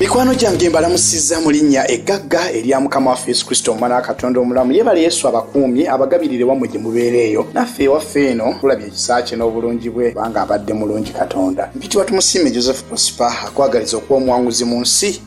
mikwano gyange mbalamusiza mu linnya eggagga erya mukama waffe yesu kristo omwana wa katonda omulamu yebale yesu abakuumye abagabirire wammwe gye mubeera eyo naffe ewaffe eno tulabye ekisa kye n'obulungi bwe kubanga abadde mulungi katonda mpitibwa tumusiime joseph prosper akwagaliza okuba omuwanguzi mu nsi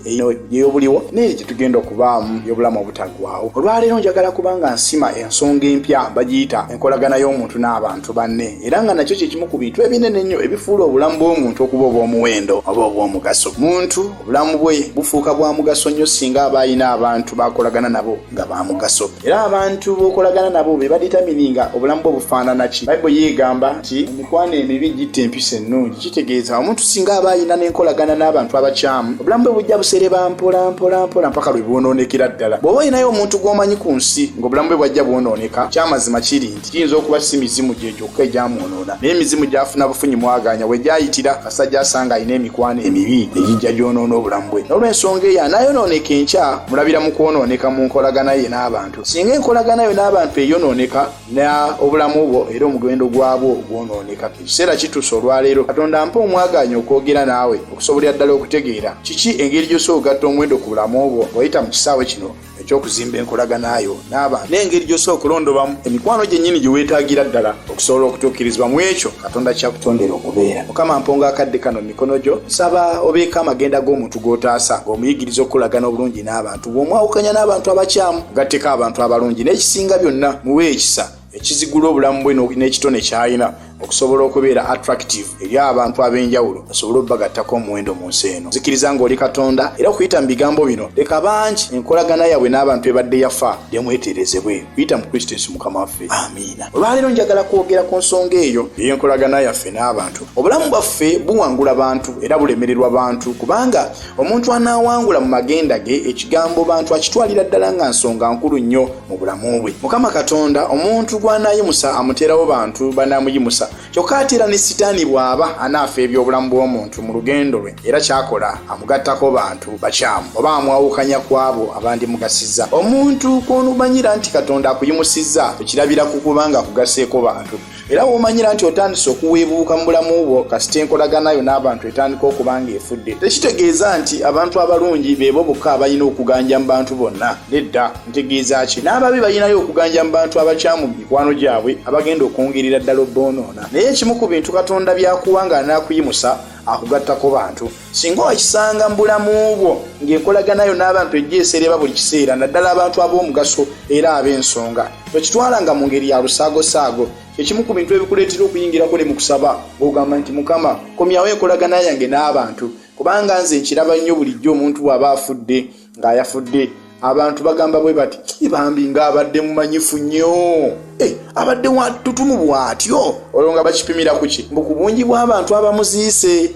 eyobuliwo neeri gye tugenda okubaamu y'obulamu obutaggwawo olwaleero njagala kubanga nsima ensonga empya bagiyita enkolagana y'omuntu n'abantu banne era nga nakyo kyekimu ku bintu ebinene ennyo ebifuula obulamu bw'omuntu okuba obw'omuwendo oba obw'omugaso muntu obulamu bwe bufuuka bwa mugaso nnyo singa aba alina abantu bakolagana nabo nga ba mugaso era abantu b'okolagana nabo be baditamini nga obulamu bwe bufaanana ki bayibuli yeegamba nti emikwano emibi gitta empisa ennungi kitegeeza omuntu singa aba alina n'enkolagana n'abantu abakyamu obulamu bwe bujja busereba mpola mpola mpola mpaka lwe bwonoonekera ddala bw'oba olinayo omuntu gw'omanyi ku nsi ng'obulamu bwe bwajja bwonooneka kyamazima kiri Kiyinza okuba si mizimu gye gyokka egyamwonoona, naye emizimu gy'afuna bufunyi mwagaanya we gyayitira kasajja asanga alina emikwano emibi egijja gyonoona obulamu bwe. N'olw'ensonga eyo anaayonooneka enkya mulabira mu kwonooneka mu nkolagana ye n'abantu. Singa enkolagana yo n'abantu eyonooneka, na obulamu bwo era omugendo gwabwo gwonooneka. Ekiseera kituuse olwaleero Katonda ampe omwagaanya okwogera naawe okusobolera ddala okutegeera kiki engeri gy'osobola okugatta omuwendo ku bulamu bwo wayita mu kisaawe kino. ekyokuzimba enkolaganayo naaba n'engeri gy'osobola okulondobamu emikwano gyennyini gye weetaagira ddala okusobola okutuukirizibwa mu ekyo katonda kyakutondera okubeera mukama mponga akadde kano mu mikono gyo nsaba obeeko amagenda g'omuntu g'otaasa ng'omuyigiriza okukolagana obulungi n'abantu bw'omwawukanya n'abantu abakyamu gatteko abantu abalungi n'ekisinga byonna muwe ekisa ekizigula obulamu bwe n'ekitone kyalina okusobola okubeera attractive eri abantu ab'enjawulo basobole okubagattako omuwendo mu nsi eno zikiriza ng'oli katonda era okuyita mu bigambo bino leka bangi enkolagana yaabwe n'abantu ebadde yafa demweterezebwe kuyita mu kristo yesu mukama waffe amiina olwaleero njagala kwogera ku nsonga eyo ey'enkolagana yaffe n'abantu obulamu bwaffe buwangula bantu era bulemererwa bantu kubanga Omuntu anaawangula mu magenda ge ekigambo bantu akitwalira ddala nga nsonga nkulu nnyo mu bulamu bwe. Mukama Katonda omuntu gw'anaayimusa amuteerawo bantu banaamuyimusa. Kyokka ate era ne sitaani bw'aba anaafa eby'obulamu bw'omuntu mu lugendo lwe era ky'akola amugattako bantu bakyamu oba amwawukanya ku abo abandimugasiza. Omuntu kw'onumanyira nti Katonda akuyimusizza okirabira ku kubanga akugaseeko bantu. era womanyira nti otandise okuweebuuka mu bulamu bwo kasita enkolagana yo n'abantu etandika okuba nga efudde tekitegeeza nti abantu abalungi beebo bokka abalina okuganja mu bantu bonna nedda ntegeeza ki n'ababi balinayo okuganja mu bantu abakyamu mu mikwano gyabwe abagenda okwongerera ddala obboonoona naye ekimu ku bintu katonda byakuwa nga anaakuyimusa akugattako bantu singa okisanga mu bulamu bwo ng'enkolaganayo n'abantu ejja esereba buli kiseera naddala abantu ab'omugaso era ab'ensonga tokitwala nga mu ngeri ya lusaagosaago ekimu ku bintu ebikuleetera okuyingira kuli mu kusaba ng'ogamba nti mukama komyawo enkolagana yange n'abantu kubanga nze nkiraba nnyo bulijjo omuntu bw'aba afudde ng'ayafudde abantu bagamba bwe bati ibambi ng'abadde mumanyifu nnyo eh, abadde watutumu bw'atyo olwo nga bakipimira ku ki mbu ku bungi bw'abantu abamuziise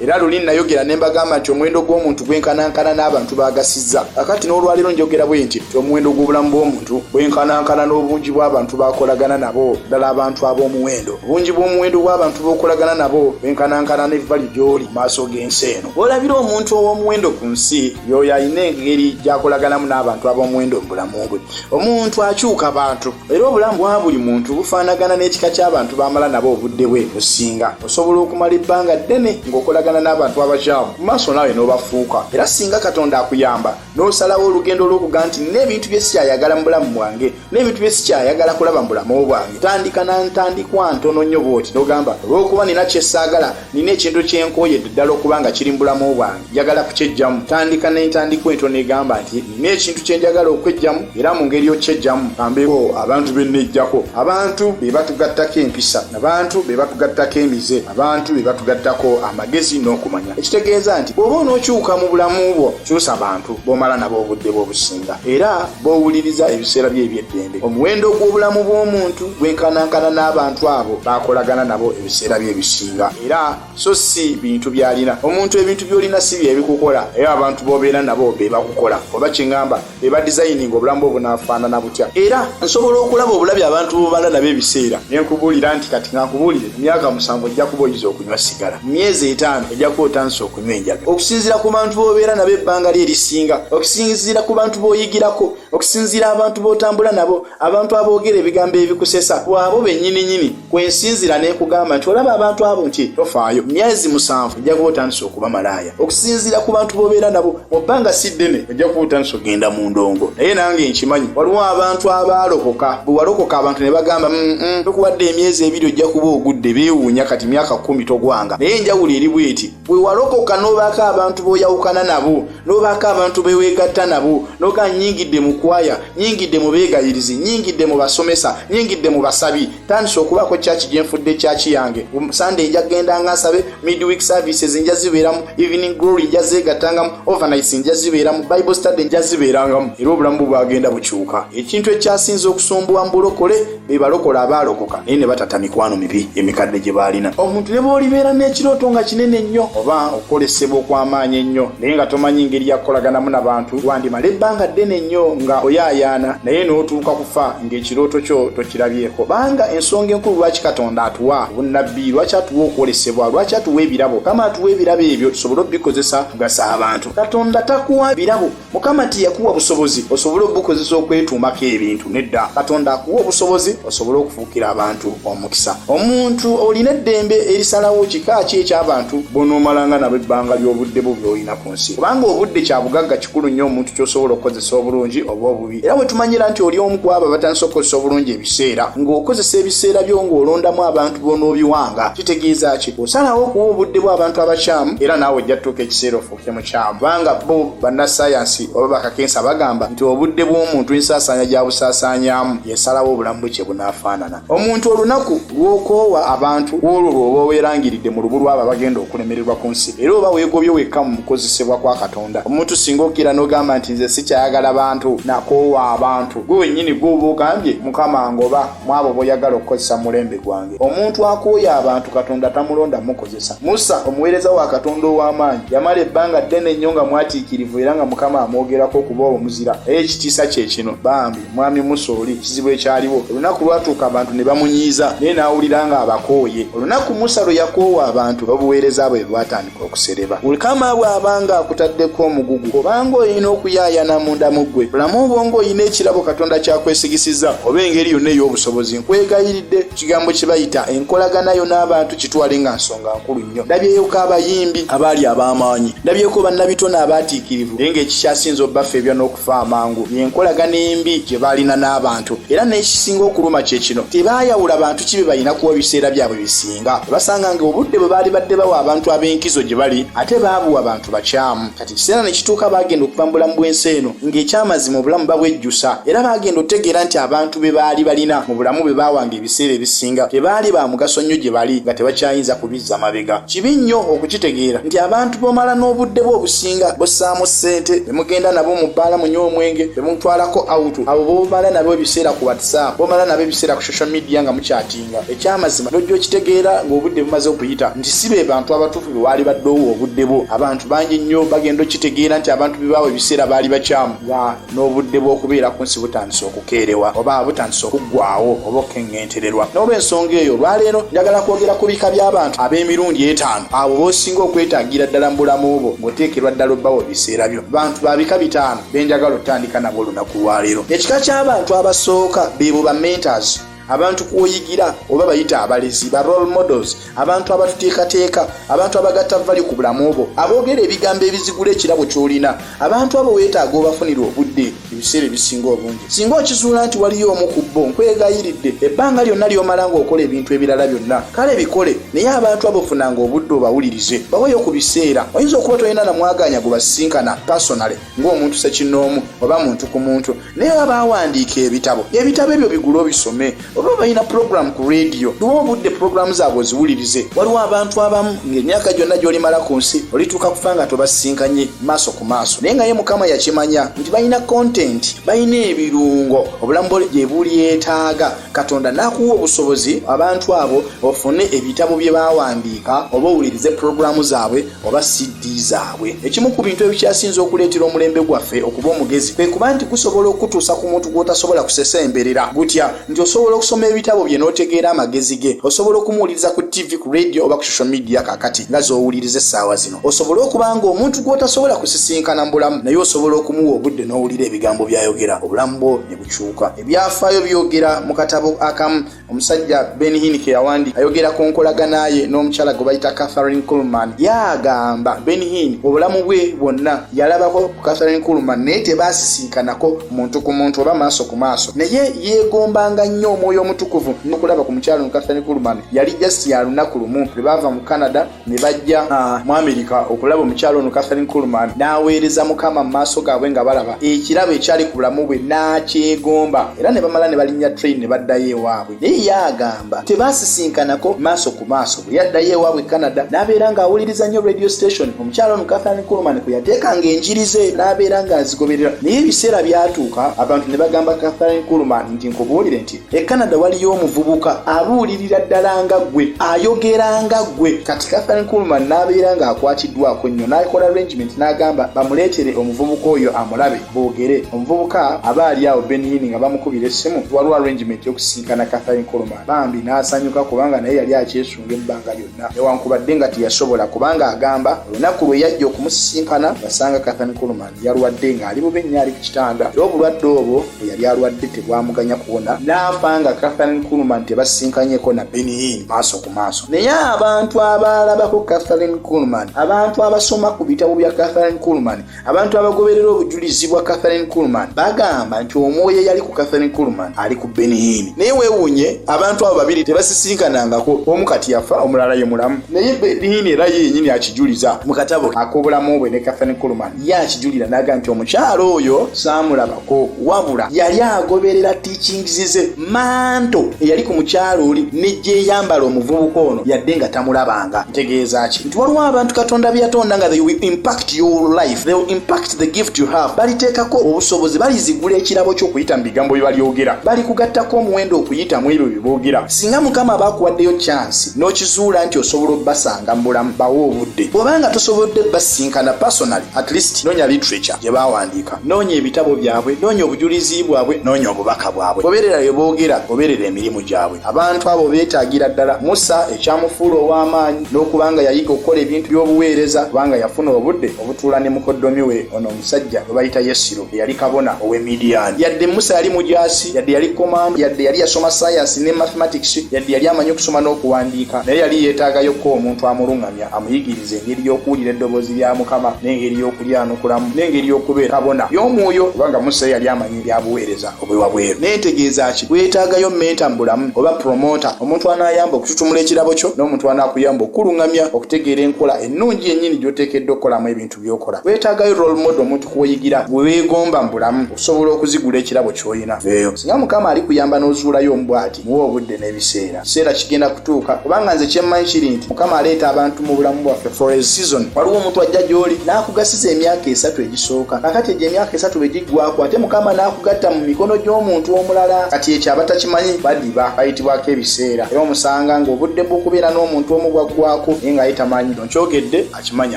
era luli nayogera ne mbagamba nti omuwendo gw'omuntu gwenkanankana n'abantu bagasizza akati n'olwaleero njogera bwe nti ti omuwendo gw'obulamu bw'omuntu gwenkanankana n'obungi bw'abantu bakolagana nabo ddala abantu ab'omuwendo obungi bw'omuwendo bw'abantu b'okolagana nabo gwenkanankana n'evvali gy'oli mu maaso g'ensi eno Olabira omuntu ow'omuwendo ku nsi y'oyo alina engeri gy'akolaganamu n'abantu ab'omuwendo mu bulamu bwe. Omuntu akyuka bantu, era obulamu bwa buli muntu bufaanagana n'ekika ky'abantu b'amala nabo obudde bwe businga. Osobola okumala ebbanga ddene ng'okolagana n'abantu abakyamu, mu maaso naawe n'obafuuka. Era singa Katonda akuyamba n'osalawo olugendo olw'okuga nti nina ebintu bye siyayagala mu bulamu bwange, n'ebintu bye sikyayagala kulaba mu bulamu bwange tandika na ntandikwa ntono nnyo bwoti n'ogamba olw'okuba nina kye saagala nina ekintu kye nkooyedde ddala okuba nga kiri mu bulamu bwange njagala kukyejjamu tandika n'entandikwa entono egamba nti nina ekintu kye njagala okwejjamu era mu ngeri okyejjamu kambeeko abantu be nnejjako abantu be batugattako empisa abantu be batugattako emize abantu be batugattako amagezi n'okumanya ekitegeeza nti bw'oba onookyuka mu bulamu bwo kyusa bantu b'omala nabo obudde bw'obusinga era b'owuliriza ebiseera bye eby'eddembe. Omuwendo gw'obulamu bw'omuntu gwenkanankana n'abantu abo b'akolagana nabo ebiseera bye ebisinga, era so si bintu by'alina. Omuntu ebintu by'olina si bye bikukola, naye abantu b'obeera nabo be bakukola. Oba kye ŋŋamba, be badizayininga obulamu bwo bunaafaanana butya. Era nsobola okulaba obulabi abantu b'obala nabo ebiseera, ne nkubuulira nti, Kati ka nkubuulire, mu myaka musanvu ojja kuba oyize okulya. okunywa sigala mu myezi etaano ojja kuba otandise okunywa enjaga okusinziira ku bantu b'obeera nabo ebbanga lye erisinga okusinziira ku bantu b'oyigirako okusinziira abantu b'otambula nabo abantu aboogera ebigambo ebikusesa waabo bennyininyini kwensinzira n'ekugamba nti olaba abantu abo nti tofaayo myezi musanvu ojja kuba otandise okuba malaaya okusinziira ku bantu b'obeera nabo mu bbanga si ddene ojja kuutanisa ogenda mu ndongo naye nange nkimanyi waliwo abantu abaalokoka bwe walokoka abantu ne bagamba mm, mm, tokuwadde emyezi ebiri ojja kuba ogudde beewuunya kati myaka kumi togwanga naye enjawulo eri bweti bwe walokoka n'obaako abantu b'oyawukana nabo n'obaako abantu beweegatta nabo noga nyingidde mu kwaya nyingidde mu beegayirizi nyingidde mu basomesa nyingidde mu basabi tandise okubaako kyaki gyenfudde kyaki yange sunday nja kugenda nga nsabe midweek services nja zibeeramu evening glory nja zeegattangamu overnights nja zibeeramu bible study nja zibeerangamu era obulamu bwe bwagenda bukyuka ekintu ekyasinza okusumbuwa mu bulokole be balokola abaalokoka naye ne batata mikwano mibi emikadde gye baalina omuntu ne bw'olibeera n'ekirooto nga kinene nnyo oba okukolesebwa okw'amaanyi ennyo naye nga tomanyi ngeri yakukolaganamu na bantu wandimala ebbanga ddene nnyo nga oyaayaana naye n'otuuka kufa ng'ekirooto kyo tokirabyeko banga ensonga enkulu lwaki katonda atuwa obunnabbi lwaki atuwa okwolesebwa lwaki atuwa ebirabo mukama atuwa ebirabo ebyo tusobole obikozesa kugasa abantu katonda takuwa birabo mukama tiyakuwa busobozi osobole obukozesa okwetuumako ebintu nedda katonda akuwa obusobozi osobole okufuukira abantu omukisa omuntu olina eddembe erisalawo kika ki eky'abantu bonoomalanga nabo ebbanga ly'obudde bwo by'olinako mu nsi kubanga obudde kya bugagga kikulu nnyo omuntu ky'osobola okukozesa obulungi oba obubi era bwe tumanyira nti oli omu kwabo abatandise okukozesa obulungi ebiseera ng'okozesa ebiseera byo ng'olondamu abantu b'onoobiwanga kitegeeza ki osalawo okuwa obudde bw'abantu abakyamu era naawe ojja tutuuka ekiseera ofuuke mukyamu kubanga bo bannasayansi oba bakakensa bagamba nti obudde bw'omuntu ensaasaanya gya busaasaanyaamu yesalawo obulamu bwe kye bunaafaanana Omuntu olunaku lw'okoowa abantu olwo lw'oba oweerangiridde mu lubu lw'abo abagenda okulemererwa ku nsi, era oba weegobye wekka mu kukozesebwa kwa Katonda. Omuntu singa okkira n'ogamba nti, Nze sikyayagala bantu, nakoowa abantu, ggwe wennyini gw'oba ogambye, Mukama angoba mu abo b'oyagala okukozesa mu mulembe gwange. Omuntu akooye abantu Katonda tamulonda mukozesa. Musa, omuweereza wa Katonda ow'amaanyi, yamala ebbanga ddene nnyo nga mwatiikirivu era nga Mukama amwogerako okuba omuzira. Naye ekitiisa kye kino bambi! Mwami Musa oli kizibu ekyaliwo olunaku lwatuuka abantu ne bamunyiiza naye n'awulira ng'abakooye. Olunaku Musa lwe yakoowa abantu obuweereza bwe bwatandika okusereba. Mukama bw'aba ng'akutaddeko omugugu obanga olina okuyaayana munda mu ggwe. Bulamu obwongo olina ekirabo Katonda ky'akwesigisizza oba engeri yonna ey'obusobozi. Nkwegayiridde ekigambo kye bayita enkolagana yo n'abantu kitwale nga nsonga nkulu nnyo. Ndabyeyoko abayimbi abaali ab'amaanyi. Ndabyeko bannabitone abaatiikirivu naye ng'ekikyasinze obafeebya n'oku okufa amangu yenkolagana embi gye baalina n'abantu era n'ekisinga okuluma kye kino tebaayawula bantu kibe balina kuwa biseera byabwe bisinga basanga nga obudde bwe baali badde bawa abantu ab'enkizo gye bali ate baabuwa bantu bakyamu kati ekiseera ne kituuka baagenda okuva mu bulamu bw'ensi eno ng'ekyamazima obulamu babwejjusa era baagenda okutegeera nti abantu be baali balina mu bulamu bwe baawanga ebiseera ebisinga tebaali ba mugaso nnyo gye bali nga tebakyayinza kubi za mabega kibi nnyo okukitegeera nti abantu bomala n'obudde bwe obusinga bussaamu ssente be mugenda nabo mu bbaala munye omwenge be mutwalako awutu abo bomala nabo ebiseera ku whatsapp bomala nabo ebiseera ku social media nga mukyatinga ekyamazima nojja okitegeera ng'obudde bumaze okuyita nti si be bantu abatuufu be waali baddeowo obudde bwo abantu bangi nnyo bagenda okitegeera nti abantu bebaawo ebiseera baali bakyamu nga n'obudde bw'okubeera ku nsi butandise okukeerewa oba butandise okuggwawo oba okukeŋŋentererwa n'olw'ensonga eyo olwaleero njagala kwogera ku bika by'abantu ab'emirundi etaano abo b'osinga okwetaagira ddala mu bulamu bwo ng'oteekerwa ddala obbawo ebiseera byo bantu ba bika bitaano be njagala otandika nabo olunaku lwaleero ekika ky'abantu abasooka beebo ba mentors abantu kwoyigira oba bayita abalezi ba role models abantu abatuteekateeka abantu abagatta vali ku bulamu obwo aboogera ebigambo ebizigula ekirabo kyolina abantu abo weetaaga obafunira obudde ebiseera ebisinga obungi singa okizuula nti waliyo omu ku bbo nkwegayiridde ebbanga lyonna lyomala ng'okola ebintu ebirala byonna kale bikole naye abantu abo funanga obudde obawulirize baweyo ku biseera oyinza okuba tolina namwagaanya gwe basisinkana pasonale ng'omuntu sekinnoomu oba muntu ku muntu naye oba bawandiika ebitabo ebitabo ebyo bigule obisome oba balina pulogulaamu ku rediyo duwa obudde pulogulaamu zaabwe oziwulirize waliwo abantu abamu ng'emyaka gyonna gy'olimala ku nsi olituuka kufa nga tobasisinkanye maaso ku maaso naye nga ye mukama yakimanya nti balina kontenti balina ebirungo obulamu bwe gye bulyetaaga katonda n'akuwa obusobozi abantu abo ofune ebitabo bye bawandiika oba owulirize pulogulaamu zaabwe oba siddi zaabwe ekimu ku bintu ebikyasinze okuleetera omulembe gwaffe okuba omugezi kwe kuba nti gusobola okutuusa ku muntu gw'otasobola kusesemberera gutya nti osobola okusoma ebitabo bye n'otegeera amagezi ge osobola okumuwuliriza ku ttivi ku radio oba ku social media kakati nga z'owuliriza essaawa zino osobole okuba nga omuntu gw'otasobola kusisinkana mu bulamu naye osobola okumuwa obudde n'owulira ebigambo by'ayogera obulamu bwo ne bukyuka ebyafaayo byogera mu katabo akamu omusajja ben hinike yawandi ayogera ku nkolagana ye n'omukyala gwe bayita catherine coolman yagamba ben hin obulamu bwe bwonna yalabako ku catherine coolman naye tebaasisinkanako muntu ku muntu oba maaso ku maaso naye yeegombanga nnyo omwoyo omutukuvu nokulaba ku mukyala no catherine coolman yali jasi ya lunaku lumu lwe baava mu canada ne bajja ah. mu amerika okulaba omukyalo ono catherine coolman n'aweereza mukama mu maaso gaabwe nga balaba ekirabo ekyali ku bulamu bwe n'akyegomba era ne bamala ne balinnya train ne baddayo ewaabwe naye yaagamba tebaasisinkanako maaso ku maaso bwe yaddayo ewaabwe canada n'abeera ng'awuliriza nnyo radio station omukyalo ono catherine coolman kwe yateekanga enjiri ze n'abeera ng'azigoberera naye ebiseera byatuuka abantu ne bagamba catherine coolman nti nkubuulire nti e canada waliyo omuvubuka abuulirira ddala nga ggwe ayogera nga ggwe kati kathan kulman n'abeera ng'akwatiddwako nnyo n'akola arrangement n'agamba bamuleetere omuvubuka oyo amulabe boogere omuvubuka aba ali awo benini nga bamukubira essimu waliwo arrangement yokusinkana kathan kulman bambi n'asanyuka kubanga naye yali akyesunga ebbanga lyonna newankubadde nga teyasobola kubanga agamba olunaku lwe yajja okumusisinkana yasanga kathan kulman yalwadde ng'ali bubi nnyo ali ku kitanda era obulwadde obwo bwe yali alwadde tebwamuganya kuwona n'afa nga catherine kulman tebasinkanyeko na beniin maaso ku maaso naye abantu abaalabako catherine kulman abantu abasoma ku bitabo bya catherine kulman abantu abagoberera obujulizi bwa catherine kulman bagamba nti omwoyo eyali ku catherine kulman ali ku beniin naye weewuunye abantu abo babiri tebasisinkanangako omu kati yafa omulala ye mulamu naye benin era yenyini akijuliza mu katabo ak'obulamu bwe ne kathan kulman ye akijulira naga nti omukyalo oyo saamulabako wabula yali agoberera tiikingizi ze manto eyali ku mukyalo oli negyeyambala omuvubuka ono yadde nga tamulabanga ntegeeza ki nti waliwo abantu katonda byeyatonda nga they will impact your life they will impact the gift you have baliteekako obusobozi balizigula ekirabo ky'okuyita mu bigambo bye balyogera balikugattako omuwendo okuyita mu ebyo bye boogera singa mukama baakuwaddeyo kyansi n'okizuula nti osobola obbasanga mu bulamu bawe obudde bw'oba nga tosobodde basinkana personally at least noonya literature gye baawandiika noonya ebitabo byabwe noonya obujulizi bwabwe noonya obubaka bwabwe obeerera bye boogera obeerera emirimu gyabwe abantu abo beetaagira ddala musa ekyamufuula ow'amaanyi n'okubanga yayiga okukola ebintu by'obuweereza kubanga yafuna obudde obutuula ne mukoddomi we ono omusajja gwe bayita yesiro eyali kabona ow'e midiyaani yadde musa yali mujaasi yadde yali komando yadde yali yasoma sayansi ne mathematics yadde yali amanyi okusoma n'okuwandiika naye yali yeetaagayo ko omuntu amuluŋŋamya amuyigiriza engeri y'okuwulira eddoboozi lya mukama n'engeri y'okulyanukulamu n'engeri y'okubeera kabona y'omwoyo kubanga musa yali amanyi ebyabuweereza obwe wabweru naye ntegeeza ki weetaagayo menta mu bulamu oba promota omuntu anaayamba okututumula ekirabo kyo n'omuntu anaakuyamba okukuluŋŋamya okutegeera enkola ennungi yennyini gy'oteekeddwa okukolamu ebintu by'okola weetaagayo role model omuntu kuweyigira gwe weegomba mu bulamu okusobola okuzigula ekirabo ky'olina veeyo singa mukama alikuyamba n'ozuulayo omubwati muwa obudde n'ebiseera kiseera kigenda kutuuka kubanga nze kyemmanyi kiri nti mukama aleeta abantu mu bulamu bwaffe for a season waliwo omuntu ajja gy'oli n'akugasiza emyaka esatu egisooka kakati egyo emyaka esatu bwe giggwako ate mukama n'akugatta mu mikono gy'omuntu omulala kati ekyo abatakimanyi badiba bayitibwako ebiseera era omusanga ng'obudde bw'okubeera n'omuntu omu bwaggwako naye ng'aye tamanyi no kyogedde akimanyi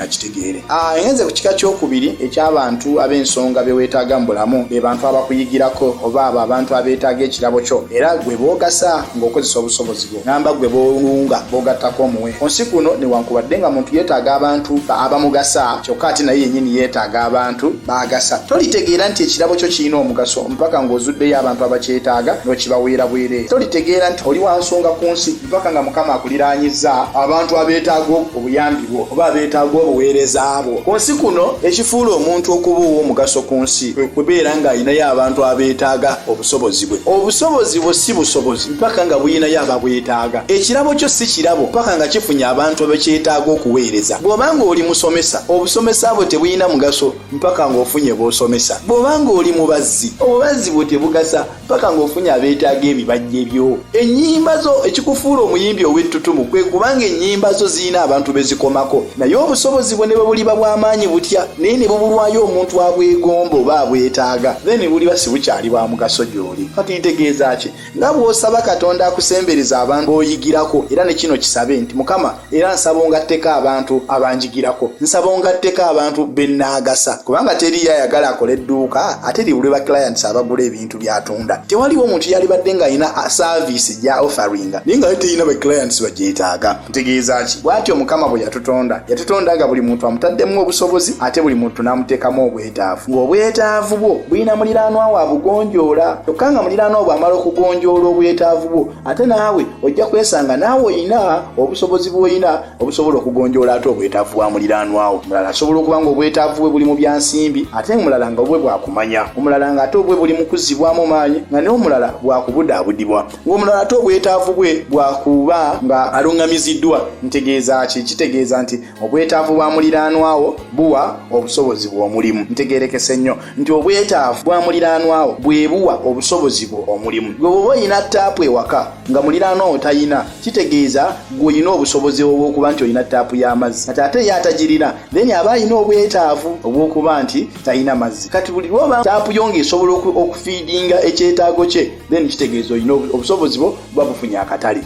akitegeere ah, enze ku kika kyokubiri ekyabantu ab'ensonga bye weetaaga mu bulamu be bantu abakuyigirako oba abo abantu abeetaaga ekirabo kyo era gwe boogasa ng'okozesa obusobozi bwo namba gwe bowunga bogattako omuwe ku nsi kuno newankubadde nga muntu yeetaaga abantu abamugasa kyokka ate naye yennyini yeetaaga abantu baagasa tolitegeera nti ekirabo kyo kirina omugaso mpaka ng'ozuddeyo abantu abakyetaaga n'okibaweera bwereere tolitegeera nti oli wansonga ku nsi mpaka nga mukama akuliranyiza abantu abeetaaga obuyambi bwo oba abeetaaga obuweereza bwo ku nsi kuno ekifuula omuntu okuba ow'omugaso ku nsi kwe kubeera ng'alinayo abantu abeetaaga obusobozi bwe obusobozi bwo si busobozi mpaka nga buyinayo ababwetaaga ekirabo kyo si kirabo mpaka nga kifunye abantu abekyetaaga okuweereza bw'oba ng'oli musomesa obusomesa bwo tebulina mugaso mpaka ng'ofunye b'osomesa bw'oba ng'oli mubazzi obubazzi bwo tebugasa paka ng'ofunye abeetaaga ebibajje byo ennyimba zo ekikufuula omuyimbi ow'ettutumu kwe kubanga ennyimba zo zirina abantu be zikomako naye obusobozi bwo ne bwe buliba bw'amaanyi butya naye ne bubulwayo omuntu abwegomba oba abwetaaga then buliba si bukyali bwa mugaso gy'oli kati ntegeeza ki nga bw'osaba katonda akusembereza abantu b'oyigirako era ne kino kisabe nti mukama era nsaba ongatteko abantu abanjigirako nsaba ongatteko abantu benaagasa kubanga teriyo ayagala akole edduuka ate liwulwe ba clients abagula ebintu byatunda tewaliwo omuntu yalibadde ng'alina saaviisi gya offeringa naye nga terina ba clients bagyetaaga ntegeeza ki bwatyo mukama bwe yatutonda yatutonda nga buli muntu amutaddemu obusobozi ate buli muntu n'amuteekamu obwetaavu ng'obwetaavu bwo bulina muliraanwa wa bugonjoola kyokka nga muliraanwa bw'amala okugonjoola obwetaavu bwo ate naawe ojja kwesanga naawe olina obusobozi bwolina obusobola okugonjoola ate obwetaavu bwa muliraanwawo mulala asobola okuba nga obwetaavu bwe buli mu byansimbi ate mulala nga obwe bwakumanya omulala nga ate obwe buli mukuzibwamu maanyi nga naye omulala bwakubudaabudibwa ngaomulala ate obwetaavu bwe bwakuba nga aluŋŋamiziddwa ntegeeza ki kitegeeza nti obwetaavu bwa muliraanwawo buwa obusobozi bw'omulimu ntegerekese nnyo nti obwetaavu bwa muliraanwawo bwe buwa obusobozi bwo omulimu gwe bwoba olina taapu ewaka nga muliraanwawo talina kitegeeza gweolina obusobozi obwokuba nti olina taapu y'amazzi kati ate ye atagirina then aba alina obwetaavu obwokuba nti talina mazzi kati buli lwoba taapu yo ngaesobola okufiidinga ekyetaago kye then kitegeeza olina obusobozi bwo buba bufunye akatale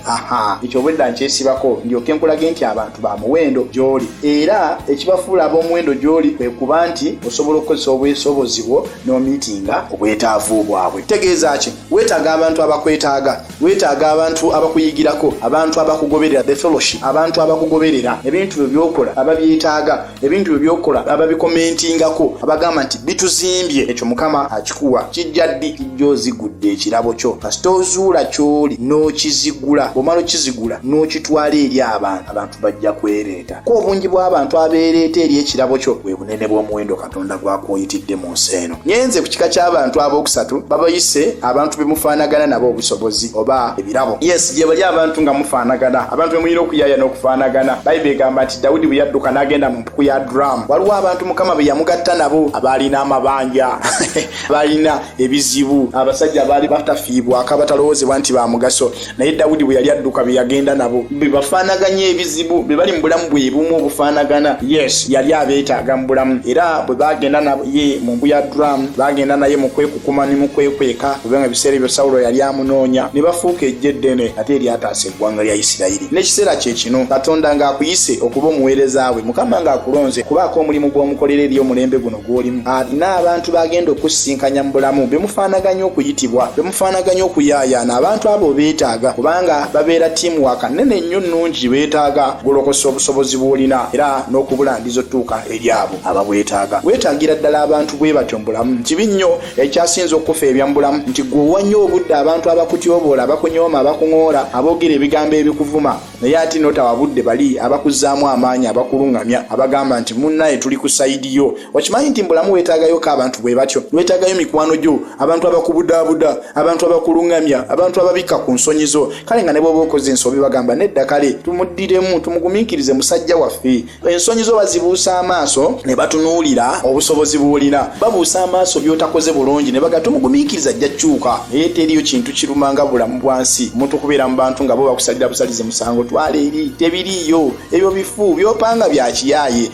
ekyo obwedda nkyesibako ndyoke nkulage nti abantu ba muwendo gy'oli era ekibafuula ab'omuwendo gy'oli kwe kuba nti osobola okukozesa obwesobozi bwo n'omiitinga obwetaavu bwabwe tegeeza ki weetaaga abantu abakwetaaga weetaaga abantu abakuyigirako abantu abakugoberera the fellowship abantu abakugoberera ebintu byo byokola ababyetaaga ebintu bye byokola ababikomentingako abagamba nti bituzimbye ekyo mukama akikuwa kijja ddi kijja ozigudde ekirabo kyo kasita ozuula kyoli n'okizigula bwomala okizigula n'okitwala eri abantu abantu bajja kwereeta ko obungi bw'abantu abeereeta eri ekirabo kyo bwe bunene bw'omuwendo katonda gwakwoyitiddemu mu nsi eno nyenze ku kika ky'abantu ab'okusatu babayise abantu be mufaanagana nabo obusobozi oba ebirabo yes gye bali abantu nga mufaanagana abantu be mulina okuyaaya n'okufaanagana bayibuli egamba nti dawudi bwe yadduka n'agenda mu mpuku ya duramu waliwo abantu mukama be yamugatta nabo abaalina amabanja baalina ebizibu abasajja baali batafiibwako abatalowoozebwa nti ba mugaso naye dawudi bwe yali adduka be yagenda nabo be bafaanaganya ebizibu be bali mu bulamu bwe bumu obufaanagana yes yali abeetaaga mu bulamu era bwe bagenda naye mu mbu ya duramu bagenda naye mu kwekukuma ne mu kwekweka kubanga ebiseera ebyo sawulo yali amunoonya ne bafuuka ejja eddene ate eryataasa eggwanga lya isirayiri n'ekiseera kye kino katonda ng'akuyise okuba omuweereza we mukama ng'akulonze kubaako omulimu gw'omukolera eri omulembe guno gwolimu alina abantu bagenda okusinkanya mu bulamu bemufaanaganya okuyitibwa bemufaanaganya okuyaayaana abantu abo beetaaga kubanga babeera tiimu waka nene nnyo nnungi beetaaga golokosa obusobozi bw'olina era n'okubulangiza otuuka eri abo ababwetaaga weetaagira ddala abantu bwe batyo mu bulamu kibi nnyo ekyasinza okufa ebya mu bulamu nti gwe owannyo obudde abantu abakutyoboola abakunyooma abakuŋoola aboogera ebigambo ebikuvuma naye ate notawa budde bali abakuzaamu amaanyi abakulungamya abagamba nti munnaye tuli ku sayidi yo okimanyi nti mbulamu weetaagayoko abantu bwe batyo weetaagayo mikwano gyo abantu abakubudaabuda abantu abakulungamya abantu ababikka ku nsonyi zo kale nga ne bwoba okoze ensobi bagamba nedda kale tumuddiremu tumugumiikirize musajja waffe ensonyi zo bazibuusa amaaso ne batunuulira obusobozi bw'olina babuusa amaaso by'otakoze bulungi ne baga tumugumiikiriza ajja kyuka naye teriyo kintu kiruma nga bulamu bwa nsi omuntu okubeera mu bantu nga bo bakusalira busalize musango twala eri tebiriiyo ebyo bifu byopanga bya kiyaaye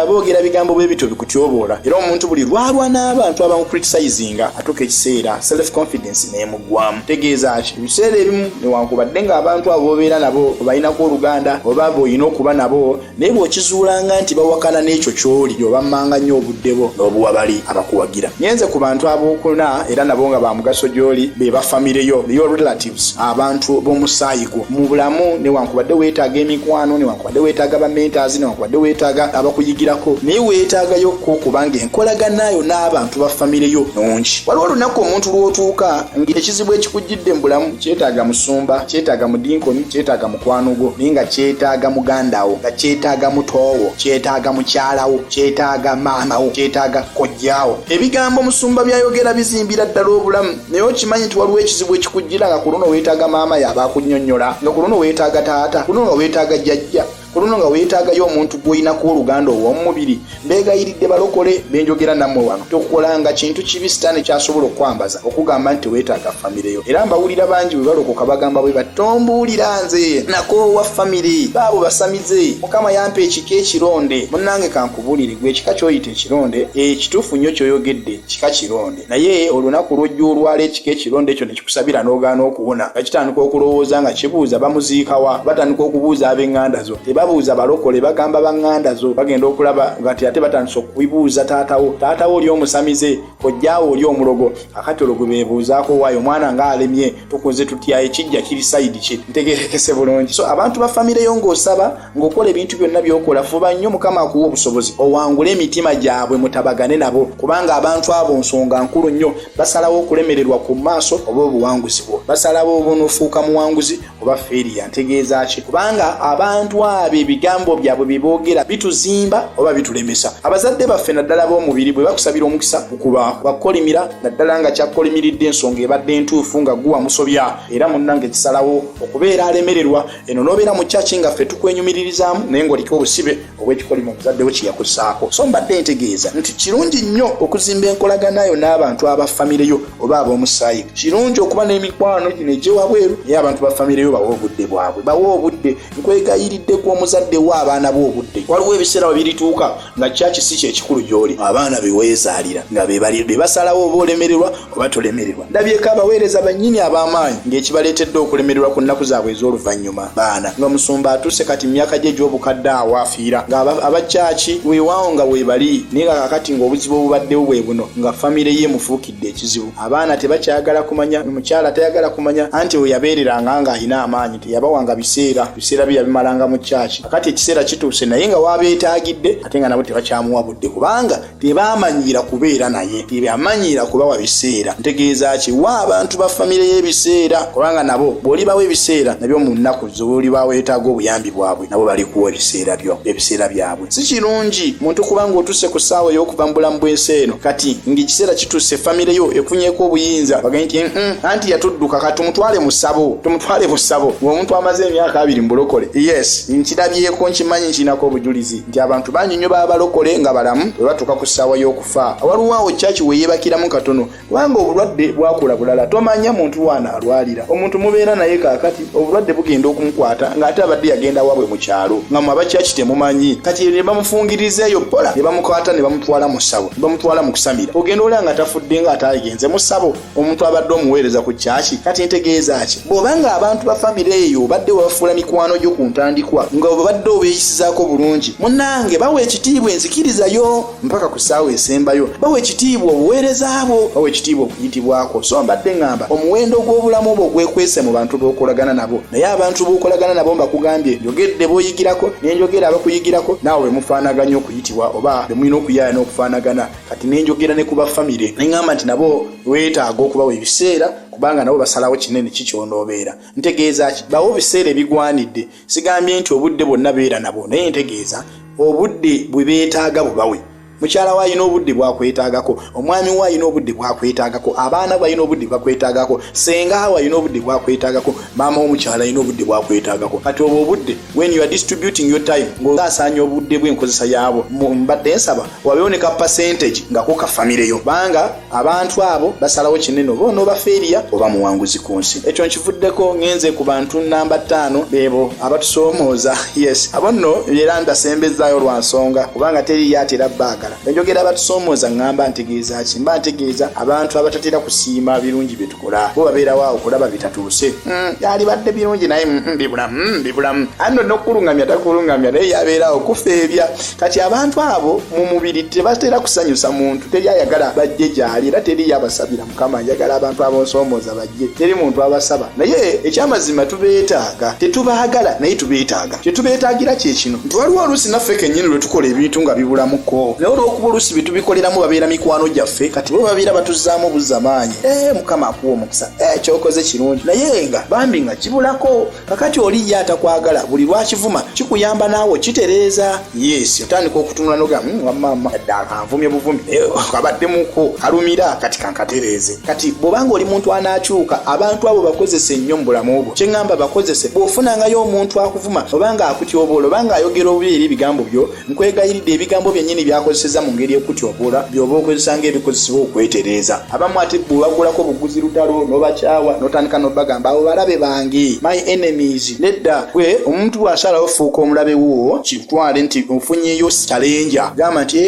boogera bigambo bwe bityo bikutyoboola era omuntu buli lwalwa n'abantu abamukritisizinga atuuka ekiseera self confidence nemu gwamu tegeeza ki ebiseera ebimu newankubadde ng'abantu abo bobeera nabo obalinako oluganda oba boolina okuba nabo naye bw'okizuulanga nti bawakana n'ekyo ky'oli obammanga nnyo obudde bo n'obuwa bali abakuwagira nyenze ku bantu ab'okuna era nabo nga ba mugaso gy'oli be ba famire yo yo relatives abantu b'omusaayi gwo mu bulamu newankubadde weetaaga emikwano wadde weetaaga ba mentors no wadde weetaaga abakuyigirako naye weetaagayo ko kubanga enkolaganayo n'abantu ba famire yo nungi waliwo olunaku omuntu lw'otuuka ng'ekizibu ekikujjidde mu bulamu kyetaaga musumba kyetaaga mudinkoni kyetaaga mukwano gwo naye nga kyetaaga mugandawo nga kyetaaga mutoowo kyetaaga mukyalawo kyetaaga maamawo kyetaaga kojjawo ebigambo musumba byayogera bizimbira ddala obulamu naye okimanyi nti waliwo ekizibu ekikujjira nga ku luno weetaaga maama yaaba akunyonyola nga ku luno weetaaga taata ku luno nga weetaaga jjajja ku luno nga weetaagayo omuntu gw'oyinaku oluganda ow'omumubiri mbeegayiridde balokole benjogera nammwe wano tokolanga kintu kibi sitaani kyasobola okukwambaza okugamba nti weetaaga famireyo era mbawulira bangi bwe balokoka bagamba bwe batombuulira nze nakoowa famire baabo basamize mukama yampa ekika ekironde munnange kankubuulire gwe ekika ky'oyita ekironde ekituufu eh, nnyo ky'oyogedde kika kironde naye olunaku lwojja olwala ekika ekironda ekyo nekikusabira n'ogaana okuwona nga kitandika okulowooza nga kibuuza bamuziikawa batandika okubuuza ab'eŋŋanda zo tebabuuza balokole bagamba baŋŋanda zo bagenda okulaba ngati ate batandisa okubibuuza taatawo taatawo oli omusamize kojjaawo oli omulogo akati olwo gwe beebuuzaako waayo omwana nga alemye tukunze tutya ekijja kiri sayidi ki ntegerekese bulungi so abantu ba famireyo ng'osaba ng'okola ebintu byonna by'okola fuba nnyo mukama akuwa obusobozi owangule emitima gyabwe mutabagane nabo kubanga abantu abo nsonga nkulu nnyo basalawo okulemererwa ku maaso oba obuwanguzi bwo basalawo obunofuuka muwanguzi oba feeriya ntegeeza ki kubanga abantu abo ebigambo byabwe bye boogera bituzimba oba bitulemesa abazadde baffe naddala b'omubiri bwe bakusabira omukisa okuba bakukolimira naddala nga kyakukolimiridde ensonga ebadde entuufu nga guwa musobya era munnange kisalawo okubeera alemererwa eno nobeera mu kyaki nga ffe tukwenyumiririzaamu naye ngaoliko obusibe obwekikolimo omuzadde we kyeyakusaako so mbadde ntegeeza nti kirungi nnyo okuzimba enkolaganayo n'abantu aba famire yo oba ab'omusaayi kirungi okuba n'emikwano gino egyewabweru naye abantu ba famire yo bawa obudde bwabwe bawa obudde nkwegayiridde ku omuzadde wo abaana bo obudde waliwo ebiseera we birituuka nga kyaki si kyekikulu gyoli abaana beweezaalira nga bebasalawo oba olemererwa oba tolemererwa ndabyeko abaweereza bannyini ab'amaanyi ng'ekibaleetedde okulemererwa ku nnaku zaabwe ez'oluvannyuma baana nga musumba atuuse kati mu myaka gye egy'obukadde awo afiira nga abakyaki weewaawo nga weebali naye nga kakati ng'obuzibu obubaddewo bwe buno nga famire ye mufuukidde ekizibu abaana tebakyagala kumanya omukyala tayagala kumanya anti weyabeereranga ng'alina amaanyi teyabawanga biseera biseera bye yabimalanga mu kyaki akati ekiseera kituuse naye nga wabeetagidde ate nga nabo tebakyamuwa budde kubanga tebamanyiira kubeera naye tebamanyiira kubawa biseera ntegeeza ki wa abantu ba famire y'ebiseera kubanga nabo bw'olibawo ebiseera nabyo mu nnaku zolibaweetaaga obuyambi bwabwe nabo balikuwa ebiseera byo ebiseera byabwe si kirungi muntu kuba ng'otuuse ku ssaawa ey'okuva mu bulamu bw'ensi eno kati ng'ekiseera kituuse famire yo efunyeeko obuyinza baganye nti mm, anti yatudduka ka tumutwale mu ssabo tumutwale mu ssabo ng'omuntu amaze emyaka abiri mu bulokole yes nkirabyeko nkimanyi nkirinako obujulizi nti abantu bangi nnyo baba balokole nga balamu bwe batuuka ku ssaawa y'okufa waliwo awo kyaki weyeebakiramu katono kubanga obulwadde bwakula bulala tomanya muntu waana alwalira omuntu mubeera naye kakati obulwadde bugenda okumukwata ng'ate abadde yagenda wabwe mu kyalo nga mwe abakyaki temumanyi kati ne bamufungiriza eyo bola ne bamukwata ne bamutwala mu ssabo ne bamutwala mu kusamira ogenda olaba nga tafudde nga ataagenze mu ssabo omuntu abadde omuweereza ku kyaki kati ntegeeza ki bw'oba nga abantu ba famire eyo obadde wabafuula mikwano gyo ku ntandikwa nga obadde obeeyisizaako bulungi munange bawa ekitiibwa enzikirizayo mpaka ku ssaawa esembayo bawa ekitiibwa obuweereza bwo bawa ekitiibwa okuyitibwako so mbadde ŋŋamba omuwendo gw'obulamu obwo gwekwese mu bantu b'okolagana nabo naye abantu b'okolagana nabo mbakugambye njogedde b'oyigirako nenjogera abakuyigirako naawe bwe mufaanaganya okuyitibwa oba bwe mulina okuyaaya n'okufaanagana kati nenjogera ne ku bafamire ne ŋŋamba nti nabo weetaaga okubawa ebiseera kubanga nabo basalawo kinene kikyonoobeera ntegeeza ki bawo biseera ebigwanidde sigambye nti obudde bwonna beera nabwo naye ntegeeza obudde bwe beetaaga bubawe mukyala we alina obudde bwakwetaagako omwami we alina obudde bwakwetaagako abaana be alina obudde bwakwetaagako senga we alina obudde bwakwetaagako maama womukyala alina obudde bwakwetaagako kati obwo obudde when you are distributing your time ng'osasaanya obudde bw'enkozesa yaabwo mbadde nsaba wabeewo ne ka percentage nga ko ka famireyo banga abantu abo basalawo kinene oba onooba feeriya oba muwanguzi ku nsi ekyo nkivuddeko ngenze ku bantu namba ttaano beebo abatusoomooza yes abo nno era ndasembezaayo lwa nsonga kubanga teriyo atera baagala enjogera abatusoomooza ŋŋamba ntegeeza ki mba ntegeeza abantu abatatera kusiima birungi byetu kola bo babeerawo awo kulaba bitatuuse mm, yalibadde birungi naye mm, mm, bibulamu bibulamu anno nokukulungamya takulungamya naye yabeerawo kufeebya kati abantu abo mu mubiri tebatera kusanyusa muntu teri ayagala bajje gyali era teri yabasabira mukama ayagala abantu abonsomooza bajje teri muntu abasaba naye ekyamazima tubeetaaga tetubaagala naye tubeetaaga kyetubeetagira kyekino nti waliwo oluusi naffe kennyini lwe tukola ebintu nga bibulamuko naye olwokuba oluusi bye tubikoleramu babeera mikwano gyaffe kati bo babeera batuzzaamu buzza maanyi ee eh, mukama akuwa omukisa ee eh, kyokoze kirungi naye nga bambi nga kibulako kakati oli ye atakwagala buli lwakivuma kikuyamba naawe okitereeza yesi otandika okutunula noga hmm, wamama adde akanvumye buvumi eh, kabaddemuko kalumira kati kankatereeze kati bwobanga oli muntu anakyuka abantu abo bakozese nnyo mu bulamu bwo kyeŋŋamba bakozese bw'ofunangayo omuntu akuvuma obanga akutyoboola obanga ayogera obubi eri ebigambo byo nkwegayiridde ebigambo byennyini byakozeseza mu ngeri ekutyoboola byoba okozesa ng'ebikozesebwa okwetereeza abamu ate bwebagulako buguzi lutalo n'obakyawa n'otandika n'obagamba abo balabe bange my enemies nedda gwe omuntu bw'asalawo fuuka omulabe wo twale nti ofunyeyo kyalenja gamba nti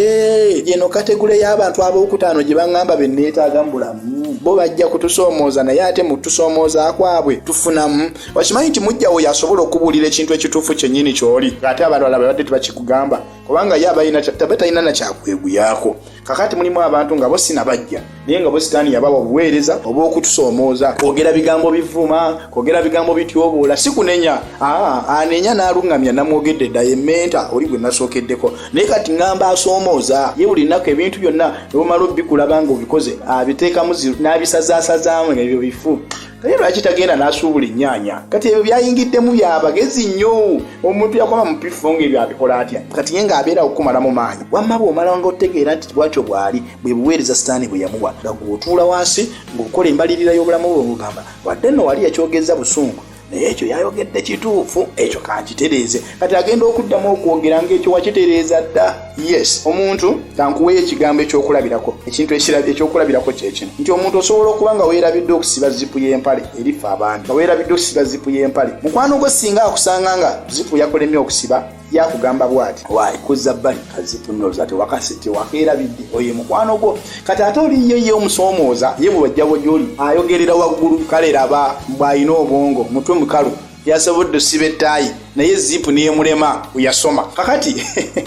eno kategule y'abantu ab'okutaano gye baŋŋamba be nneetaaga mu bulamu bo bajja kutusoomooza naye ate mu tusomooza kwabwe tufunamu wakimanyi nti mujjawo yasobola okubuulira ekintu ekituufu kyennyini ky'oli ng'ate abantu alaba badde tebakikugamba kubanga ye abalina taba talina na kyakweguyako kakati mulimu abantu nga bo sinabajja naye nga bwe sitaani yabawa obuweereza obw'okutusoomooza kwogera bigambo bivuma kwogera bigambo bityoboola si kunenya anenya n'aluŋŋamya namwogedde dda yementa oli gwe nasookeddeko naye kati ŋŋamba asoomooza ye buli nnaku ebintu byonna nebumala obikulaba nga obikoze abiteekamu n'abisazasazaamu ebyo bifu naye lwaki tagenda n'asuubula ennyaanya kati ebyo byayingiddemu bya bagezi nnyo omuntu yakoma mu piffo ng'ebyo abikola atya kati ye ng'abeerawo kukumalamu maanyi wamma bw'omala nga otegeera nti bwatyo bw'ali bwe buweereza sitaani bwe yamuwa nga gw'otuula wansi ng'okola embalirira y'obulamu bwe ng'ogamba wadde nno wali yakyogezza busungu naye ekyo yayogedde kituufu ekyo kankitereeze kati agenda okuddamu okwogera ngaekyo wakitereeza dda yes omuntu kankuweyo ekigambo ekyokulabirako ekintu ekyokulabirako kyekino nti omuntu osobola okuba nga weerabidde okusiba zipu y'empale erifa abantu nga weerabidde okusiba zipu y'empale mukwano gwo singa akusanga nga zipu yakulemye okusiba yakugamba bwati wayi kuzza bbali kazipunoza tewakasi tewakeerabidde oyo mukwano gwo kati ate oliyo ye omusoomooza ye bwewajjabo gyoli ayogerera waggulu kale laba mbwalina obwongo mutwe mukalu yasobodde osiba ettaayi naye zipu neyemulema yasoma kakati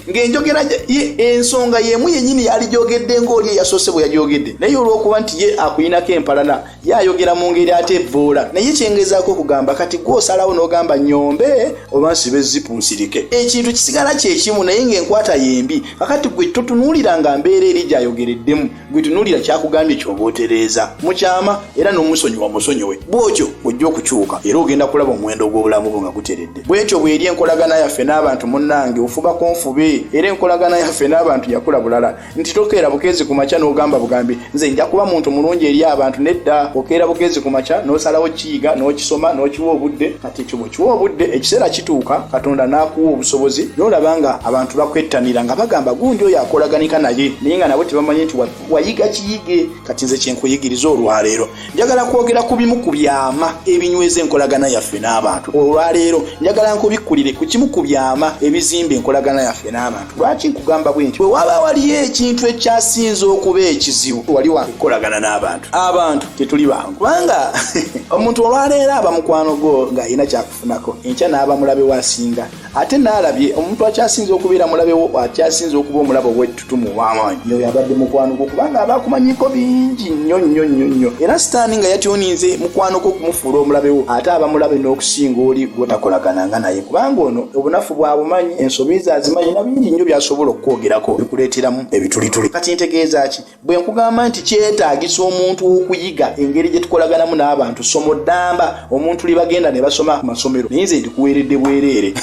ng'enjogera ye ensonga yemu yenyini yalijogedde ng'oli eyasoose bwe yajogedde naye olw'okuba nti ye akuyinako empalana ye ayogera mu ngeri ate evvoola naye kyengezaako okugamba kati gwosalawo n'ogamba nyombe oba nsibe zipu nsirike ekintu kisigala kyekimu naye ng'enkwata yembi kakati gwe totunuulira nga mbeera eri gyayogereddemu gwe tunuulira kyakugambye kyoba otereeza mukyama era n'omusonyiwa musonyiwe bw'otyo ojja okukyuka era ogenda kulaba omuwendo gw'obulamu bwo nga guteredde bw'etyo bw'eri enkolagana yaffe n'abantu munnange ofuba ku nfube era enkolagana yaffe n'abantu yakula bulala nti tokeera bukeezi ku makya n'ogamba bugambi nze nja kuba muntu mulungi eri abantu nedda okeera bukeezi ku makya n'osalawo kiyiga n'okisoma n'okiwa obudde ekyo bwe kiwa obudde ekiseera kituuka katonda n'akuwa obusobozi n'olaba nga abantu bakwettanira nga bagamba gundi oyo akolaganika naye naye nga nabo tebamanyi nti wayiga kiyige kati nze kyenkuyigiriza olwaleero njagala kwogera ku bimu ku byama ebinyweza enkolagana yaffe n'abantu olwaleero njagala nkubikkulire ku kimu ku byama ebizimba enkolagana yaffe n'abantu lwaki nkugamba bwe nti bwe waba waliyo ekintu ekyasinza okuba ekizibu wali wakukolagana n'abantu abantu tetuli bangu kubanga omuntu olwaleero aba mukwano gwo ng'alina kyakufunako enkya n'aba mulabe wasinga ate n'alabye omuntu akyasinza okubeera mulabe wo akyasinza okuba omulabe owettutumu ow'amaanyi yoyo abadde mukwano gwo kubanga aba akumanyiko bingi nnyo nnyo nnyo nnyo era sitaani nga yatyoninze mukwano gwo okumufuula omulabe wo ate aba mulabe n'okusinga oli gwotakolagana nga naye kubanga ono obunafu bwabumanyi ensobi ze azimanyi na bingi nnyo byasobola okukwogerako bikuleeteramu ebitulituli kati ntegeeza ki bwe nkugamba nti kyetaagisa omuntu okuyiga engeri gye tukolaganamu n'abantu somo ddamba omuntu libagenda ne basoma ku masomero naye nze ndikuweeredde bwereere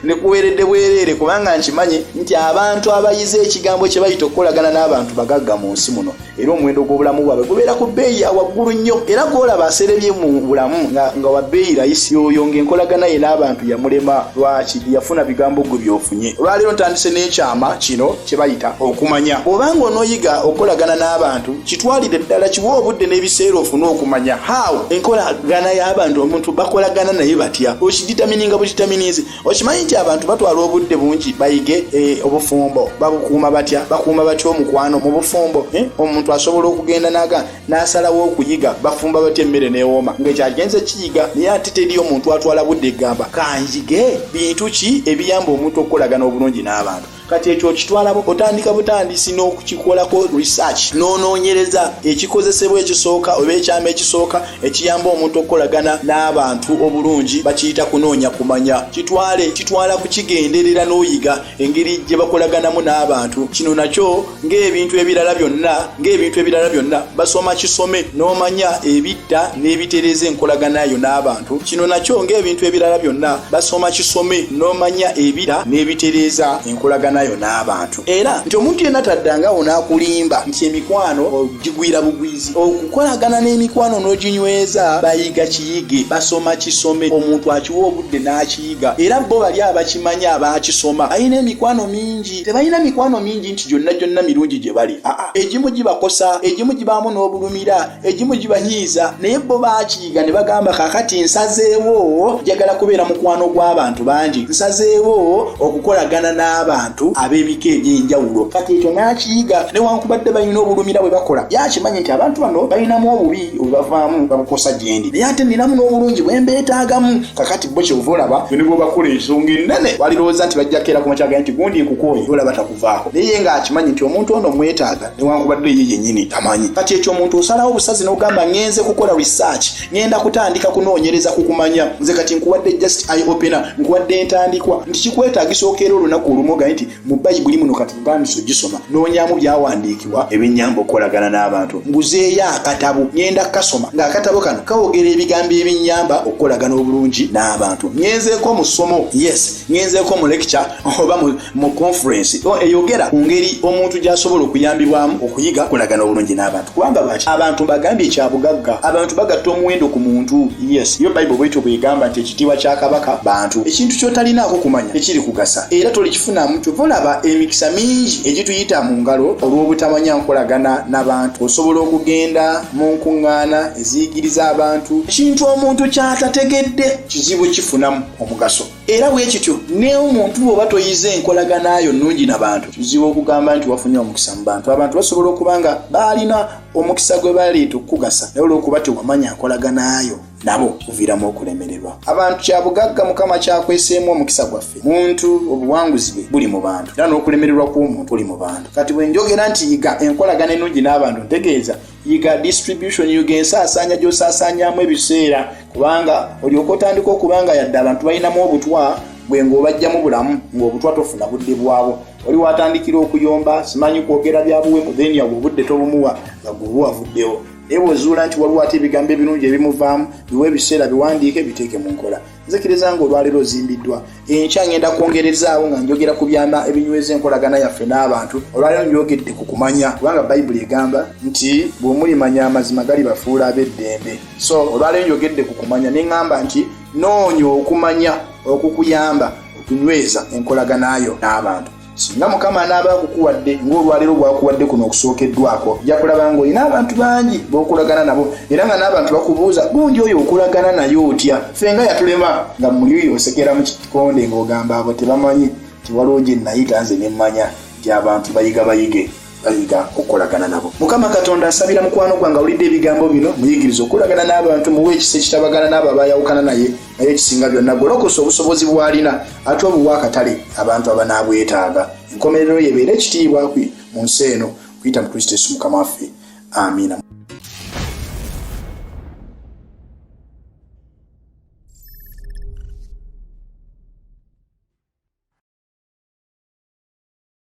ndikuweeredde bwereere kubanga nkimanyi nti abantu abayize ekigambo kye bayita okukolagana n'abantu bagagga mu nsi muno era omuwendo gw'obulamu bwabwe gubeera ku bbeeyi ya waggulu nnyo era gwolaba aserebye mu bulamu nga wa bbeeyi layisi oyo ng'enkolagana ye n'abantu yamulema lwaki yafuna bigambo gwe byofunye olwaleero ntandise n'ekyama kino kyebayita okumanya obanga onoyiga okukolagana n'abantu kitwalire ddala kiwa obudde n'ebiseera ofune okumanya how enkolagana y'abantu omuntu bakolagana naye batya okiditamininga bukitaminizi okimanyi nti abantu batwala obudde bungi bayige eh, obufumbo babukuuma batya bakuuma batya omukwano mu bufumbo eh, omuntu asobola okugenda naga n'asalawo okuyiga bafumba batya emmere newooma ngaekyagenze kiyiga naye ate teri omuntu atwala budde egamba kanjige bintu ki ebiyamba omuntu okukolagana obulungi n'abantu kati ekyo okitwalabo otandika butandisi n'okukikolako research n'onoonyereza ekikozesebwa ekisooka oba ekyama ekisooka ekiyamba omuntu okukolagana n'abantu obulungi bakiyita kunoonya kumanya kitwale kitwala kukigenderera n'oyiga engeri gye bakolaganamu n'abantu kino nakyo ng'ebintu ebirala byonna ng'ebintu ebirala byonna basoma kisome n'omanya ebidda n'ebitereeza enkolagana yo n'abantu kino nakyo ng'ebintu ebirala byonna basoma kisome n'omanya ebidda n'ebitereeza enkolagana yo n'abantu era nti omuntu yenna taddangawo n'akulimba nti emikwano ogigwira bugwizi okukolagana n'emikwano n'oginyweza bayiga kiyige basoma kisome omuntu akiwa obudde n'akiyiga era bo bali abakimanyi abaakisoma alina emikwano mingi tebalina mikwano mingi nti gyonna gyonna mirungi gye bali aa egimu gibakosa egimu gibaamu n'obulumira egimu gibanyiiza naye bo bakiyiga ne bagamba kakati nsazeewo njagala kubeera mukwano gw'abantu bangi nsazeewo okukolagana n'abantu ab'ebika eby'enjawulo kati ekyo n'akiyiga newankubadde balina obulumira bwe bakola yakimanyi nti abantu bano balinamu obubi obubavaamu babukosa gyendi naye ate ninamu n'obulungi bwe mbeetaagamu kakati bo kyova olaba bino bwebakula ensonga enene walirowooza nti bajja keera ku makyaga nti gundi nkukooye olaba takuvaako naye nga akimanyi nti omuntu ono mwetaaga newankubadde ye yenyini tamanyi kati ekyo omuntu osalawo obusazi n'ogamba ngenze kukola research ngenda kutandika kunoonyereza ku kumanya nze kati nkuwadde just i opener nkuwadde entandikwa nti kikwetaagisa okeera olunaku olumu ogaye nti mu bayibuli muno kati ntandise ogisoma noonyamu byawandiikibwa ebinyamba okukolagana n'abantu nguzeeyo akatabo ngenda kukasoma ng'akatabo kano kawogera ebigambo ebinyamba okukolagana obulungi n'abantu ngenzeeko mu ssomo yes ngenzeeko mu lecture oba mu conference eyogera ku ngeri omuntu gy'asobola okuyambibwamu okuyiga okolagana obulungi n'abantu kubanga lwaki abantu bagambye ekyabugagga abantu bagatta omuwendo ku muntu yes yo bible bwetyo bwegamba nti ekitiibwa kya kabaka bantu ekintu kyotalinaako kumanya tekiri kugasa era tolikifunamu kyova olaba emikisa mingi egituyita mu ngalo olw'obutamanya nkolagana n'abantu osobola okugenda mu nkuŋŋaana eziyigiriza abantu ekintu omuntu kyatategedde kizibu kifunamu omugaso era bwe kityo neomuntu bwoba toyize enkolagana yo nnungi na bantu kizibu okugamba nti wafunye omukisa mu bantu abantu basobola okuba nga baalina omukisa gwe baleeta okukugasa naye olwokuba tewamanya nkolagana yo nabo kuviiramu okulemererwa abantu kyabugagga mukama kyakweseemu omukisa gwaffe muntu obuwanguzi bwe buli mu bantu era n'okulemererwa kw'omuntu buli mu bantu kati bwe njogera nti yiga enkolagana ennungi n'abantu ntegeeza yiga distribution yiga ensaasaanya gy'osaasaanyamu ebiseera kubanga olyoka otandika okuba nga yadde abantu balinamu obutwa gwe ng'obajjamu bulamu ng'obutwa tofuna budde bwabwo oli watandikira okuyomba simanyi kwogera byabuwemu then yawe obudde tobumuwa nga gweoba wavuddewo naye bwozuula nti waliwo ate ebigambo ebirungi ebimuvaamu biwa ebiseera biwandiike biteeke mu nkola nzikiriza nga olwaleero ozimbiddwa enkya ngenda kwongerezaawo nga njogera ku byama ebinyweza enkolagana yaffe n'abantu olwaleero njogedde ku kumanya kubanga bayibuli egamba nti bwemulimanya amazima gali bafuula ab'eddembe so olwaleero njogedde ku kumanya ne ŋŋamba nti noonya okumanya okukuyamba okunyweza enkolagana yo n'abantu singa mukama anaaba akukuwadde ng'olwaleero bwakuwadde kuno okusookeddwako ja kulaba ng'olina abantu bangi b'okolagana nabo era nga n'abantu bakubuuza gundi oyo okolagana naye otya ffe nga yatulema nga muli oyo osekera mu kikonde ng'ogamba abo tebamanyi nti waliwo gye nayita nze ne mmanya nti abantu bayiga bayige bayiga okukolagana nabo mukama katonda asabira mukwano gwange awulidde ebigambo bino muyigiriza okukolagana n'abantu muwa ekisa ekitabagana n'abo abayawukana naye naye ekisinga byonna golokosa obusobozi bwalina ate obuwa akatale abantu abanaabwetaaga enkomerero yebeera ekitiibwa kwe mu nsi eno kuyita mu kristo yesu mukama waffe amiina